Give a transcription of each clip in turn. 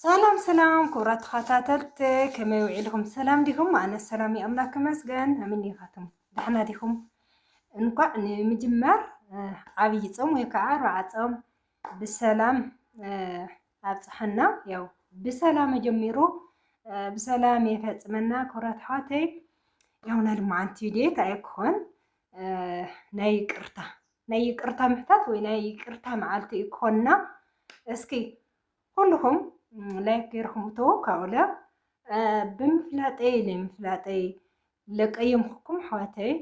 ሰላም ሰላም ክቡራት ተኸታተልቲ ከመይ ውዒልኹም ሰላም ዲኹም? ኣነ ሰላም እዩ ኣምላክ ይመስገን። ከመይ ዲኻትኩም ዳሕና ዲኹም? እንኳዕ ንምጅማር ዓብይ ጾም ወይ ከዓ ኣርብዓ ጾም ብሰላም ኣብፅሐና። ያው ብሰላም ጀሚሩ ብሰላም የፈፅመና። ክብረት ኣሕዋተይ ያው ናይ ልምዓንቲ ድየት ኣይኮን ናይ ይቅርታ ናይ ይቅርታ ምሕታት ወይ ናይ ይቅርታ መዓልቲ እዩ ክኾንና። እስኪ ኩልኹም ላይክ ገይርኹም እተዉ ካብኡለ ብምፍላጠይ ለምፍላጠይ ለቀየምኩም ኣሕዋተይ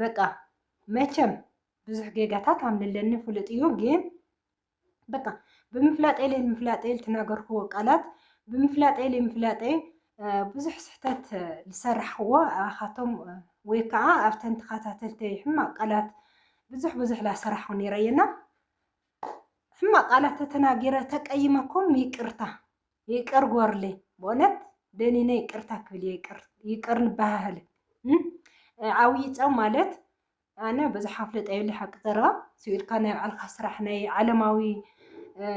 በቃ መቸም ብዙሕ ጌጋታት ኣምለለኒ ፍሉጥ እዩ ግን በቃ ብምፍላጠይ ለምፍላጠይ ልትናገርክዎ ቃላት ብምፍላጠይ ለምፍላጠይ ብዙሕ ስሕተት ዝሰራሕክዎ ኣኻቶም ወይ ከዓ ኣብተን ተኸታተልተይ ሕማቅ ቃላት ብዙሕ ብዙሕ ላሰራሕኹ ነይረ እየና ሕማቅ ቃላት ተተናጊረ ተቀይመኩም ይቅርታ ይቅር ጎርሌ በእውነት ደኒነ ይቅርታ ክብል ይቅር ንበሃህል ዓብይ ፆም ማለት ኣነ ብዙሕ ኣፍልጦ የብለ ሓቂ ዘረባ ስብኢልካ ናይ ባዕልካ ስራሕ ናይ ዓለማዊ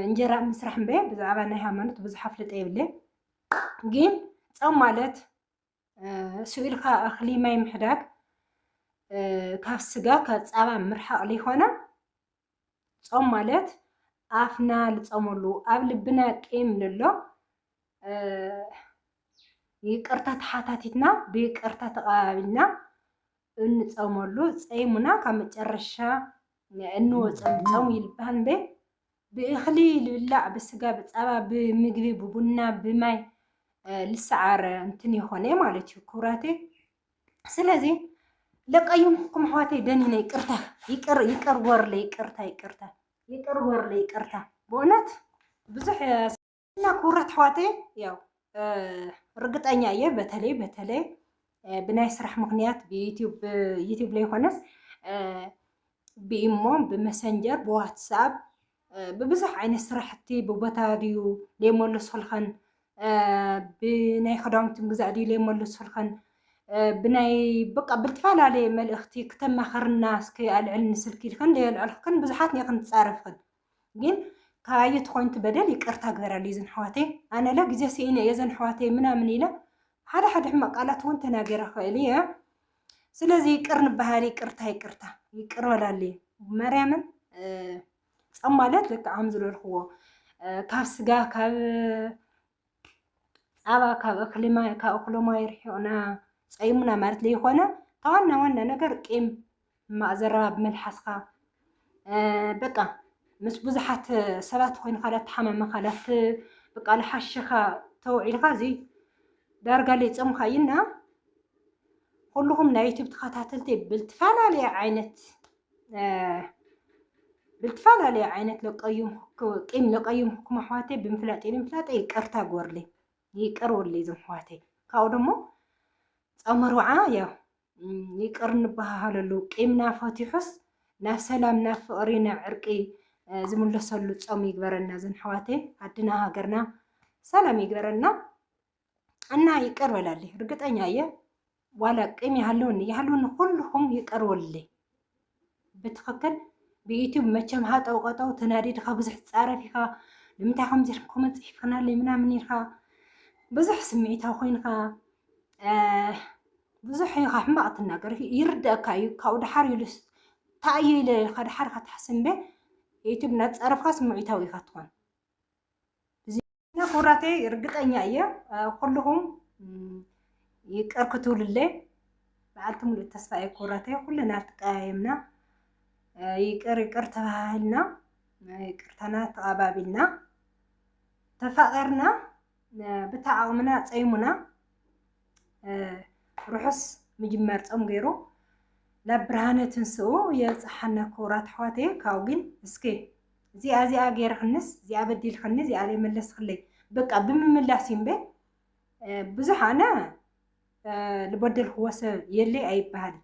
እንጀራ ምስራሕ እምበ ብዛዕባ ናይ ሃይማኖት ብዙሕ ኣፍልጦ የብለ ግን ፆም ማለት ስኢልካ እኽሊ ማይ ምሕዳግ ካብ ስጋ ካብ ፃባ ምርሓቕ ሊኾነ ፆም ማለት ኣፍና ልፀመሉ ኣብ ልብና ቂም ልሎ ይቅርታ ተሓታቲትና ብይቅርታ ተቐባቢልና እንፀመሉ ፀይሙና ካብ መጨረሻ እንወፀሉ ፀሙ ይልባሃል እንበ ብእኽሊ ልብላዕ ብስጋ ብፃባ ብምግቢ ብቡና ብማይ ልሰዓር እንትን የኾነ ማለት እዩ ክብራቴ ስለዚ ለቀዩምኩም ኣሕዋተይ ደኒነ ይቅርታ ይቅር ይቅር ጎርለ ይቅርታ ይቅርታ ይቅር ጎርለ ይቅርታ ብእውነት ብዙሕ እና ክቡራት ኣሕዋተ ያው ርግጠኛ እየ በተለይ በተለይ ብናይ ስራሕ ምክንያት ብዩቲዩብ ላይ ሆነስ ብኢሞ ብመሰንጀር ብዋትስኣብ ብብዙሕ ዓይነት ስራሕቲ ብቦታ ድዩ ዘይመለሱልኸን ብናይ ክዳውንቲ ምግዛእ ድዩ ዘይመለሱልኸን ብናይ በቃ ብልትፈላለየ መልእኽቲ ክተማኸርና እስኪ ኣልዕልኒ ስልኪ ኢልክን ዘየልዕልክን ብዙሓት ኔክን ትፃረፍክን ግን ካባየይ ተኮይኑ እቲ በደል ይቅርታ ግበረለይ እዘን ኣሕዋተይ ኣነለ ግዜ ስኢነ እየ እዘን ኣሕዋተይ ምናምን ኢለ ሓደ ሓደ ሕማቅ ቃላት እውን ተናገረ ክእል እየ ስለዚ ይቅር ንበሃል ይቅርታ ይቅርታ ይቅር በላለይ ማርያምን ጸም ማለት ልክዕ ከም ዝበልክዎ ካብ ስጋ ካብ ፃባ ካብ እክሊ ማይ ካብ እክሊ ማይ ርሒቑና ፀይሙና ማለት ዘይኮነ እታ ዋና ዋና ነገር ቂም ማእዘራ ብመልሓስካ በቃ ምስ ብዙሓት ሰባት ኮይንካ ዳተሓማመኻ ዳት በቃ ልሓሸኻ ተውዒልካ እዚ ዳርጋ ሊፀምካ እዩና ኩልኹም ናይ ዩቱብ ተኸታተልቲ ብልትፈላለየ ዓይነት ብልትፈላለዩ ዓይነት ለቀዩም ቂም ለቀዩም ክኩም ኣሕዋተይ ብምፍላጥ ንምፍላጠ ይቅርታ ጎርለይ ይቅር ወለይ ዞም ኣሕዋተይ ካብኡ ደሞ ጸመርውዓ ያው ይቅር ንበሃሃለሉ ቂምና ፈቲሑስ ናብ ሰላም ናብ ፍቅሪ ናብ ዕርቂ ዝምለሰሉ ጾም ይግበረና ዞም ኣሕዋተይ ኣድና ሃገርና ሰላም ይግበረና እና ይቅር በላልኝ። እርግጠኛ የ ዋላ ቂም ያለውን ያለውን ሁሉም ይቅር ወልልኝ። ብትክክል ብዩቱብ መቸም ሃጠው ቀጠው ተናዲድካ ብዙሕ ትፃረፍ ኢኻ ንምንታይ ከምዚ ኮመንት ፅሒፍክናለይ ምናምን ኢልካ ብዙሕ ስምዒታዊ ኮይንካ ብዙሕ ኢኻ ሕማቕ ትናገር ይርደእካ እዩ ካብኡ ድሓር ኢሉስ ታእዩ ኢለ ኢልካ ድሓር ካትሓስብ እምበ ዩቱብ እናተፃረፍካ ስምዒታዊ ኢኻ ትኾን እና ክቡራተይ ርግጠኛ እየ ኩልኹም ይቅር ክትብሉለይ በዓልቲ ሙሉእ ተስፋ እየ ክቡራተይ ኩልና ተቀያየምና ይቅር ይቅር ተባሃልና ይቅርታና ተቐባቢልና ተፋቂርና ብታ ዓቕምና ፀይሙና ርሑስ ምጅማር ፆም ገይሩ ናብ ብርሃነ ትንስኡ የብፅሓና ክቡራት ኣሕዋተይ ካብኡ ግን እስኪ እዚኣ እዚኣ ገይርክንስ እዚኣ በዲልክኒ እዚኣ ዘይመለስክለይ በቃ ብምምላስ እዩ እምበር ብዙሕ ኣነ ዝበደልክዎ ሰብ የለይ ኣይበሃል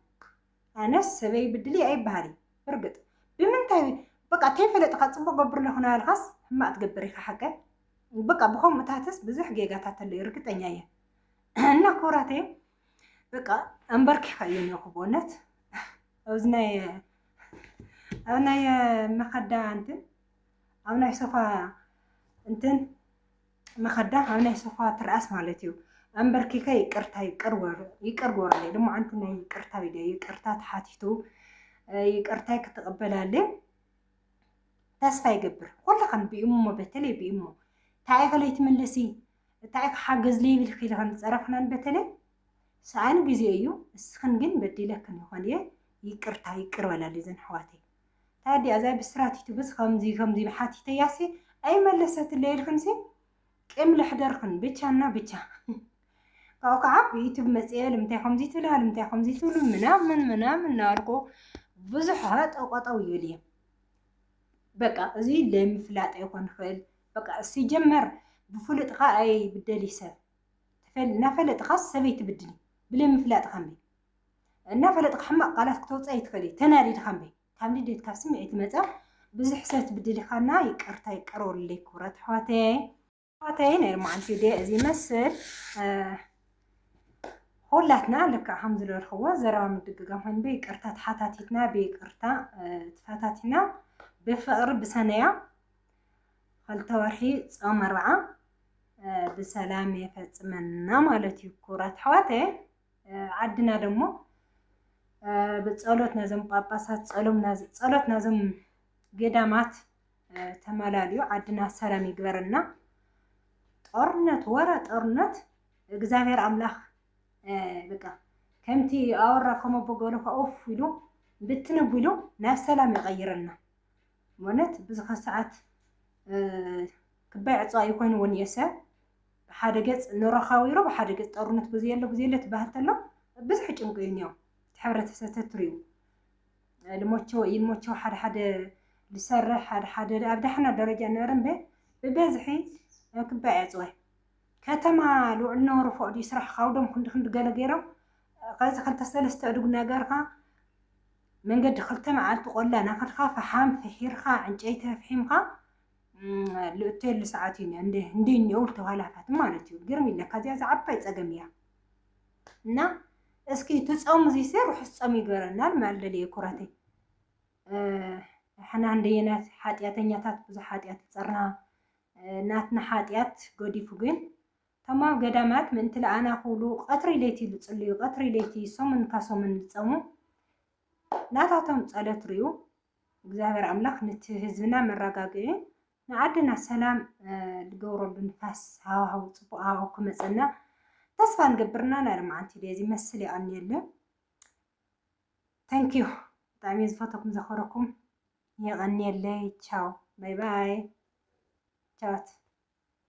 ኣነስ ሰበይ ብድሊ ኣይበሃል ብርግጥ ብምንታይ በቃ ተይፈለጥካ ፅቡቅ ገብር ኣለኹ ናበልካስ ሕማቅ ትገብር ኢኻ ሓቀ በቃ ብከምኡታትስ ብዙሕ ጌጋታት ኣለዩ ርግጠኛ እየ እና ክብራተይ በቃ ኣምበርኪኻ እየ ነኹ በእውነት ኣብዚ ናይ ኣብ ናይ መኸዳ እንትን ኣብ ናይ ሶፋ እንትን መኸዳ ኣብ ናይ ሶፋ ትርኣስ ማለት እዩ ኣምበርኪኸ ይቅርታ ይቅር ወር ይቅር ወርለ ድማ ኣንቲ ናይ ይቅርታ ኢደ ይቅርታ ተሓቲቱ ይቅርታይ ክትቕበላለ ተስፋ ይገብር ኩልኻን ብእሞ በተለይ ብእሞ እንታይ ከለይ ትምልሲ እታይ ክሓግዝ ልይብልኪ ኢለ ከምዝፀረፍክናን በተለይ ሰኣን ግዜ እዩ ንስክን ግን በዲለክን ይኮን እየ ይቅርታ ይቅር በላልይዘን ኣሕዋተይ እታ እዲኣ እዛ ብስራት ዩቱብስ ከምዚ ከምዚ ኢለ ሓቲተያሲ ኣይመለሰትለይ ኢልክንሲ ቂም ለሕደርክን ብቻ እና ብቻ ካብኡ ከዓ ብዩቱብ መፅኤ ልምንታይ ከምዚ ትብላ ልምንታይ ከምዚ ትብሉ ምናምን ምናምን እናበልኩ ብዙሕ ጠቆጠው ይብል እየ በቃ እዚ ለምፍላጥ ይኮን ይኽእል በቃ ሲጀመር ብፉልጥካ ኣይብደሊ ሰብ ናፈለጥካስ ሰበይ ትብድሊ ብለይ ምፍላጥካ እምበይ እናፈለጥካ ሕማቅ ቃላት ክተውፅእ ኣይትክእልይ ተናዲድካ እምበይ ካብ ንዴት ካብ ስምዒት ዝመፀ ብዙሕ ሰብ ትብድሊካና ይቅርታ ይቀረወልለይ ክብረት ኣሕዋተይ ኣሕዋተይ ናይ ሎማዓንቲ ዴ እዚ ይመስል ሁላትና ልክዕ ከም ዝበልክዎ ዘረባ ምድግጋም ኮይኑ ብይቅርታ ተሓታቲትና ብይቅርታ ተፈታቲና ብፍቅሪ ብሰነያ ኸልተ ወርሒ ጾም ኣርብዓ ብሰላም የፈጽመና ማለት እዩ። ክቡራት ኣሕዋት ዓድና ደሞ ብጸሎት ናዞም ጳጳሳት ጸሎም ጸሎት ናዞም ገዳማት ተመላልዩ ዓድና ሰላም ይግበረና። ጦርነት ወረ ጦርነት እግዚኣብሔር ኣምላኽ በቃ ከምቲ ኣወራ ከመቦ ገሉ ከኡፍ ኢሉ ብትንብ ኢሉ ናብ ሰላም ይቐይረና። ማለት ብዙሓት ሰዓት ክባይ ዕፅዋ ይኮይኑ እውን እየሰ ብሓደ ገፅ ንረኻዊሮ ብሓደ ገፅ ጦርነት ብዘየሎ ብዘየሎ ትባሃል ተሎ ብዙሕ ጭንቁ እዩ እኒኦ እቲ ሕብረተሰብ ተትሪኡ ልሞቸው ይልሞቸው ሓደ ሓደ ዝሰርሕ ሓደ ሓደ ኣብ ዳሕና ደረጃ ነበረ እምበ ብበዝሒ ክባይ ዕፅወ ከተማ ልውዕል ነበሩ ፎቅ ድዩ ስራሕ ካብዶም ክንዲ ክንዲ ገለ ገይሮም ከዚ ክልተ ሰለስተ እድጉ ነገርካ መንገዲ ክልተ መዓልቲ ቆላ ናኸድካ ፈሓም ፍሒርካ ዕንጨይቲ ኣፍሒምካ ልእተየሉ ሰዓት እዩ እንደ እኒኦው ተኋላፋት ማለት እዩ ግርም ይለካ እዚኣ ዝዓባይ ፀገም እያ እና እስኪ እቲ ፆም እዚሰ ርሑስ ፆም ይገበረናል ማልደልየ ኩረተይ ሕና እንደየናት ሓጢኣተኛታት ብዙሕ ሓጢኣት ይፀርና ናትና ሓጢኣት ገዲፉ ግን እቶም ኣብ ገዳማት ምእንቲ ለኣና ክብሉ ቐትሪ ለይቲ ልጽልዩ፣ ቐትሪ ለይቲ ሰሙን እካ ሰሙን ልጸሙ፣ ናታቶም ጸሎት ርእዩ እግዚኣብሔር ኣምላኽ ንቲ ህዝብና መራጋግዒ ንዓድና ሰላም ልገብረሉ ንፋስ ሃዋህው ጽቡቕ ሃዋህው ክመጸና ተስፋ ንገብርና ናይ ሎማዓንቲ ደዚ መስል የቐንየለ ተንኪዩ ብጣዕሚ ዝፈተኩም ዘኸረኩም የቐንየለይ ቻው ባይ ባይ ቻውት